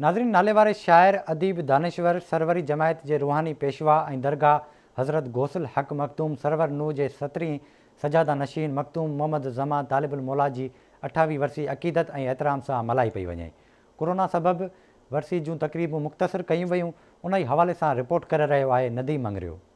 ناظرين ناليواري شاعر، اديب، دانشور، سروري جماعت جي روحاني پيشوا ۽ درگاهه حضرت غوث الحق مخدوم سرور نوح جي سترين سجاده نشين مخدوم محمد زمان طالب الموليٰ جي اٺاويهين ورسي عقيدت ۽ احترام سان ملهائي پئي وڃي ڪورونا سبب ورسي جون تقريبون مختصر ڪيون ويون انهي حوالي سان رپورٽ ڪري رهيو آهي نديم مڱريو.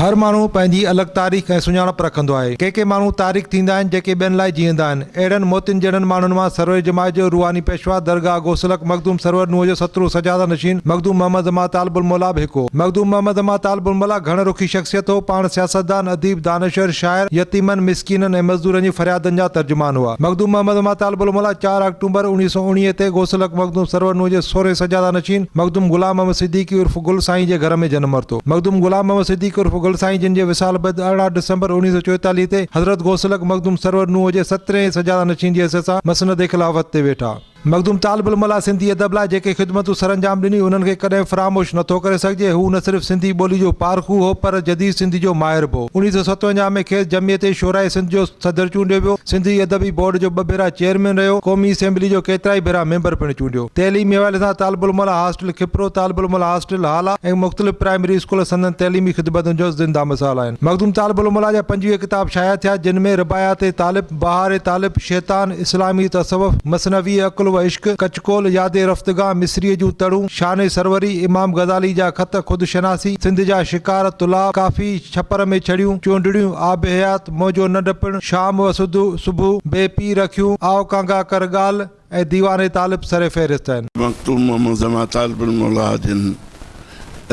هر ماڻهو پنهنجي الڳ تاريخ ۽ سڃاڻپ رکندو آهي. ڪي ڪي ماڻهو تاريخ ٿيندا آهن جيڪي ٻين لاء جيئندا آهن. اهڙن موتين جهڙن ماڻهن مان سروري جماعت جو روحاني پيشوا درگاهه گوسلڪ مخدوم سرور نوح جو سترو سجاده نشين مخدوم محمد زمان طالب الموليٰ به هڪ هو. مخدوم محمد زمان طالب الموليٰ گهڻ رخي شخصيت هو. پاڻ سياستدان، اديب، دانشور، شاعر، يتيمن، مسڪينن ۽ مزدورن جي فريادن جا ترجمان هئا. مخدوم محمد زمان طالب الموليٰ چار آڪٽومبر اوڻيهه سؤ اوڻيهه تي گوسلڪ مخدوم سرور نوح جي سورهين سجاده نشين مخدوم غلام محمد صديقي عرف گل سائين جي گهر ۾ جنم ورتو. مخدوم غلام محمد صديقي عرف گل سائين جن جي وصال بعد ارڙهن ڊسمبر اوڻيهه سؤ چويتاليهه تي حضرت غوث الحق مخدوم سرور نوح جي سترين ۽ سجاده نشين جي حيثيت سان مسند خلافت تي ويٺا. مخدوم طالب الملا سنڌي ادب لاء جيڪي خدمتون سرانجام ڏني انهن کي ڪڏهن فراموش نه ٿو ڪري سگهجي هو نه صرف سنڌي ٻولي جو پارکو هو پر جديد سنڌي جو ماهر به هو اوڻيهه سؤ ستونجاهه ۾ کيس جمعيت شعراء سنڌ جو صدر چونڊيو ويو. سنڌي ادبي بورڊ جو ٻه ڀيرا چيئرمين رهيو. قومي اسيمبلي جو ڪيترائي ڀيرا ميمبر پڻ چونڊيو. تعليمي حوالي سان طالب العلم لاء هاسٽل کپرو، طالب العلم لاء هاسٽل هالا ۽ مختلف پرائمري اسڪول سندن تعليمي خدمتن جو زنده مثال آهن. مخدوم طالب العلم لاء جا پنجويهه ڪتاب شايع ٿيا، جن ۾ رباعيات طالب، بهار طالب، شيطان، اسلامي تصوف، مثنوي عقل و عشق، ڪچ ڪول، ياد رفتگان، مصريء جون تڙون، شان سروري، امام غزالي جا خط، خود شناسي، سنڌ جا شڪار، طلاء، ڪافي، ڇپر ۾ ڇڙيون، چونڊڙيون، آب حيات، مئو جو نه ڊپڻ، شام و سڌ صبح بي پي رکيون، آء ڪانگا ڪر ڳالهه ۽ ديوان طالب سر فهرست آهن. مخدوم محمد زمان طالب الموليٰ جن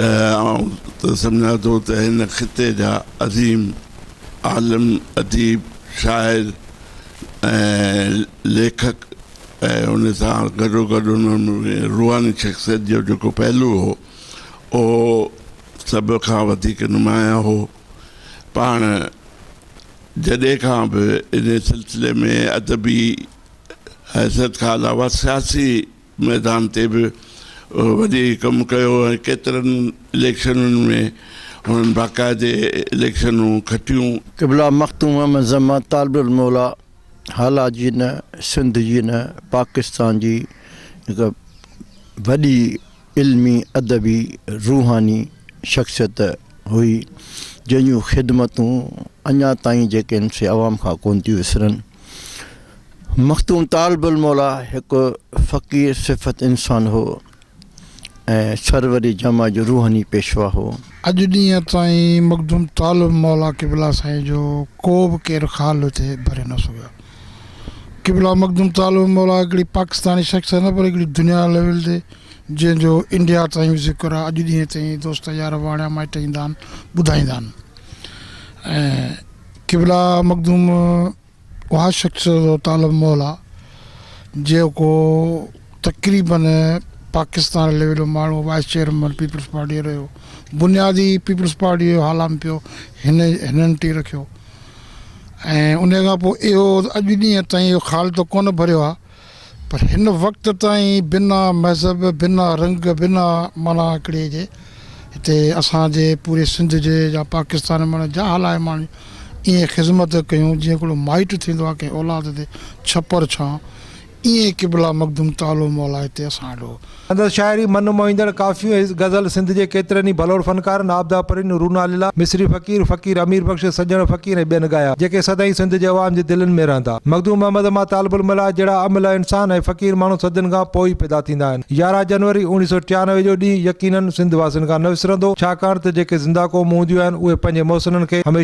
آئون ته سمجهان ٿو ته هن خطي جا عظيم عالم، اديب، شاعر ۽ ليکڪ ۽ ان سان گڏوگڏ انهن ۾ روحاني شخصيت جو جيڪو پهلو هو اهو سڀ کان وڌيڪ نمايان هو. پاڻ جڏهن کان به ان سلسلي ۾ ادبي حيثيت کان علاوه سياسي ميدان تي به وڏي ڪم ڪيو ۽ ڪيترن اليڪشنن ۾ هنن باقاعدي اليڪشنون کٽيون. قبله مخدوم احمد زمان طالب الموليٰ هالا جي نه سنڌ جي نه پاڪستان جي هڪ وڏي علمي، ادبي، روحاني شخصيت هئي، جنهن جون خدمتون اڃا تائين جيڪي ان سي عوام کان ڪونه ٿيون وسرن. مخدوم طالب الموليٰ هڪ فقير صفت انسان هو ۽ سروري جمع جو روحاني پيشوا هو. اڄ ڏينهن تائين مخدوم طالب الموليٰ قبلا سائين جو ڪو به ڪير خال هتي ڀري نه سگهيو. قبلا مخدوم تعالو مولا هڪڙي پاڪستاني شخص نه پر هڪڙي دنيا ليول تي جنهن جو انڊيا تائين به ذڪر آ اڄ ڏينهن تائين دوست يار واڻيا مائٽ ايندا آهن ٻڌائيندا آهن ۽ قبلا مخدوم اها شخص تعالو مولا جيڪو تقريبا پاڪستان ليول ماڻهو وائس چيئرمن پيپلز پارٽي رهيو بنيادي پيپلز پارٽي هالام پيو هن هنن ٽي رکيو ۽ انهيء کان پوء اهو اڄ ڏينهن تائين اهو خال ته ڪونه ڀريو آهي پر هن وقت تائين بنا مذهب بنا رنگ بنا معنيٰ هڪڙي جي هتي اسان جي پوري سنڌ جي يا پاڪستان معنيٰ جا هلائي ماڻهن ايئن خذمت ڪيون جيئن هڪڙو مائٽ ٿيندو آهي ڪنهن اولاد تي ڇپر ڇانء ايئن قبله مخدوم تعالو مولا هتي اسان آڏو. سندس شاعري من موهيندڙ ڪافيون ۽ غزل سنڌ جي ڪيترن ئي ڀلوڙ فنڪارن عابده پرين، رونا ليلا، مصري فقير، فقير امير بخش، سڄڻ فقير ۽ ٻين ڳايا، جيڪي سدائين سنڌ جي عوام جي دلين ۾ رهندا. مخدوم محمد امان طالب الملاح جهڙا املهه انسان ۽ فقير ماڻهو صدين کان پوء ئي پيدا ٿيندا آهن. يارهن جنوري اوڻيهه سؤ ٽيانوي جو ڏينهن يقينن سنڌ واسين کان نه وسرندو، ڇاڪاڻ ته جيڪي زنده قومون هونديون آهن، اهي پنهنجي محسنن کي هميشه.